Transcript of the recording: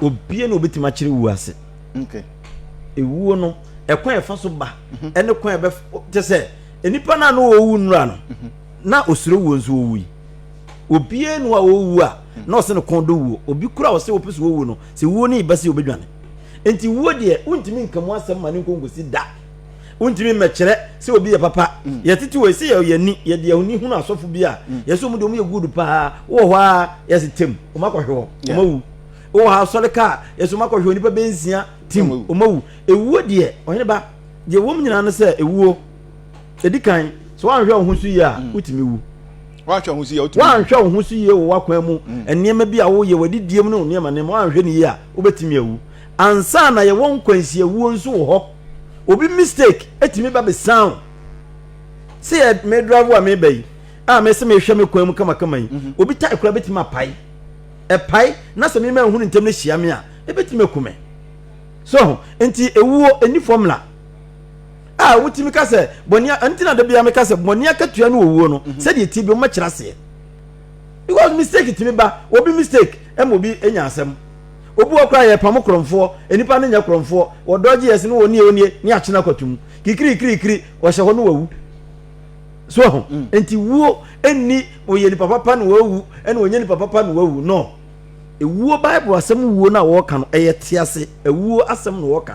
Obiara na obetumi akyerɛ wu ase. Okay. Ewuo no, ɛkwan a ɛfa so ba, mhm. ɛne kwan a ɛbɛ te sɛ nnipa no a na wɔwu nnura no, mhm. na osuro wuo nso owu yi. Obiara nu a owu a mhm. na ɔsɛ no kɔn do wuo. Obi kura a ɔsɛ wɔpɛ so wɔwu no, sɛ wuo no yi bɛsi obedwane. Nti wuo deɛ, wontumi nka mu asɛm ma ne nkonkosi da. wontumi mmɛkyerɛ sɛ obi yɛ papa mm. yɛtete wɔ ɛsɛ yɛ yɛni yɛde ahoni hunu asɔfo bi a mm. yɛsɛ ɔmu de ɔmu yɛ good paa wowɔ hɔ a yɛse tem ɔmu akɔhwe hɔ ɔmu awu wowɔ hɔ asɔre ka a yɛsɛ ɔmu akɔhwe hɔ nipa bɛnsia tim ɔmu awu ewuo deɛ ɔhene ba deɛ wɔm nyinaa no sɛ ewuo ɛdi kan sɛ woanhwɛ wo ho so yie a mm. wotumi wu woanhwɛ wo ho so yie wɔ wakwan mu nneɛma bi a woyɛ w'adidie mu ne wo nneɛma nneɛma woanhwɛ no yie a wobɛtumi awu ansa na yɛwɔ nkwansiawuo nso wɔ hɔ Obi mistake etumi ba bɛ san o. Sɛ yɛ me drive a meba yi a mɛ sɛ mehwɛ me kwan mu kamakama yi. Mhm. Obi tae kora betumi apae. Ɛpae na sɛ mema ehunu ntɛm no hyia me a ebetumi aku me. So ho nti ewuo eni formula. A wotumi ka sɛ bɔne a nti na da biara meka sɛ bɔne akatua ne owuo no mhm. sɛdeɛ ti bi wɔmɛkyerɛ aseɛ. Because mistake tumi ba obi mistake ɛma obi enya asɛm. Obi wɔ hɔ koraa a yɛpam korɔmfoɔ, nnipa no nyɛ korɔmfoɔ, wɔdɔgye yɛn se no wɔ nie onie ne akyena kwato mu. Kikirikirikiri, wɔhyɛ hɔ no wawu. So ahu? Mm. Nti wuo nni wɔyɛ nipa papa na wawu, ɛna wɔnyɛ nipa papa na wawu. No. Ewuo Bible asɛm wuo no a wɔka no, ɛyɛ tease. Ewuo asɛm na wɔka.